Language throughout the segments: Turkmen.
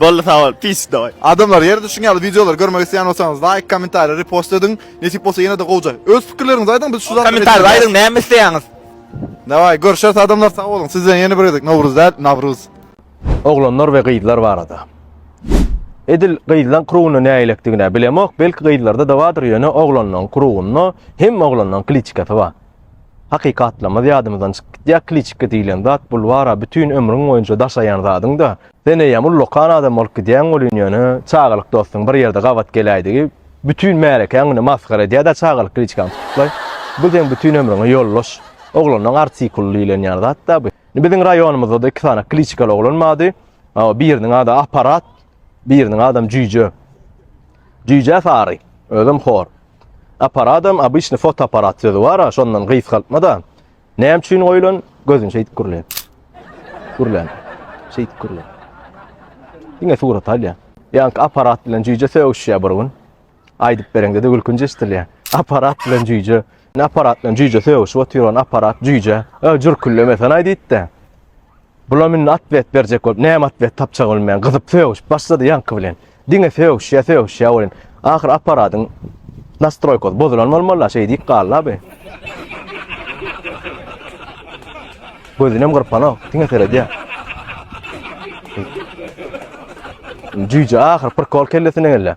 Boldy sag bol. Pis dawaý. Adamlar ýerde şuň ýaly wideolary görmek isleýän bolsaňyz laýk, kommentariýa, repost ediň. Nesip bolsa ýene-de gowja. Öz pikirleriňizi aýdyň biz şu zady. Kommentariýada aýdyň näme isleýäňiz. Dawaý görşeris adamlar sag boluň. Siz bilen ýene bir gezek Nowruz däl Nawruz. Oglanlar we gyzlar barada. Edil gyzlaň krugynda nägilekdigine bilemok belki gyzlarda da badyr ýöne oglanlaň krugynda hemme oglanlaň kliçkasy bar. Hakykatlamyz ýadymyzdan çykyp gitýär, kliçka diýlen zat bulwara bütin ömrüň boýunça daşaýan zadyň-da. Sen eýýäm ullakan adam bolup gidýäň welin ýöne çagalyk dostuň bir ýerde gabat geläýdigi bütin märekäň güni masgara edýär-dä çagalyk kliçkaň tutuklaý. Bu seň bütin ömrüňe ýoldaş. Oglanlaň artikuly diýlenýän zat-da bu. Indi biziň raýonymyzda-da iki sany kliçkaly oglan bardy. Hawa, biriniň ady Aparat, biriniň adam Jüýje. Jüýje sary, özem hor. Aparadam obyçny fotoaparat sözi bara şondan gysgaltmada näme üçin goýulan gözün şeýdip gürle. Gürlän. Şeýdip gürle. Diňe surat alýa. Ýaňky aparat bilen jüýje sögüşýä bir gün. Aýdyp bereňde-de gülkünç eşdilýä. Aparat bilen jüýje. Aparat bilen jüýje sögüşip otyr on aparat jüýje. Ö jürküllemesen aý diýipdi. Bulam indi atwet berjek bolup, näme atwet tapjagyny bilmän, gyzyp sögüşip başlady ýaňky bilen. Diňe sögüşýär, sögüşýär welin, ahyr apparatyň nastroýkasy bozulan bolmaly-la, şeý diýip galdy-la bi. Gözünem gyrpanok, diňe seredýär. Jüýje ahyr prikol kellesine geldi.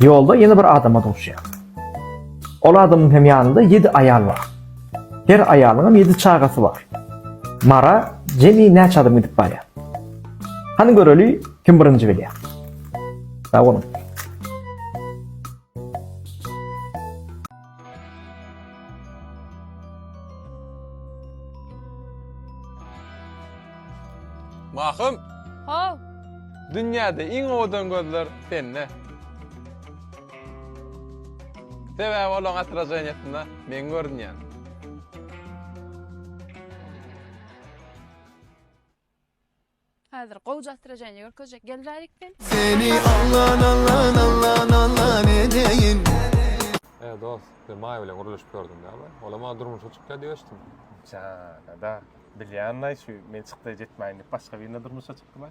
Ýolda ýene bir adama duşýar. Ol adamyň hem ýanynda ýedi aýal bar. Her aýalyň hem ýedi çagasy bar. Mara jemi näçe adam gidip barýar? Hany göreli, kim birinji bilýär? Sag boluň. Mahym! Haw! Dünýäde iň owadan gözler sende. Sebäbi olaň atraženiýasynda men görünýän. Häzir gowja astroženje görkezjek gelräýik sen. Seni allan allan allan allan edeýin. He dos, bir maý bilen urluşyp gördüm da bir. Olam maňa durmuşa çykýar diýip eşitdim. Janada, bilýänlaý şu men çykda jetmäýin diýip başga birine durmuşa çykdylaý.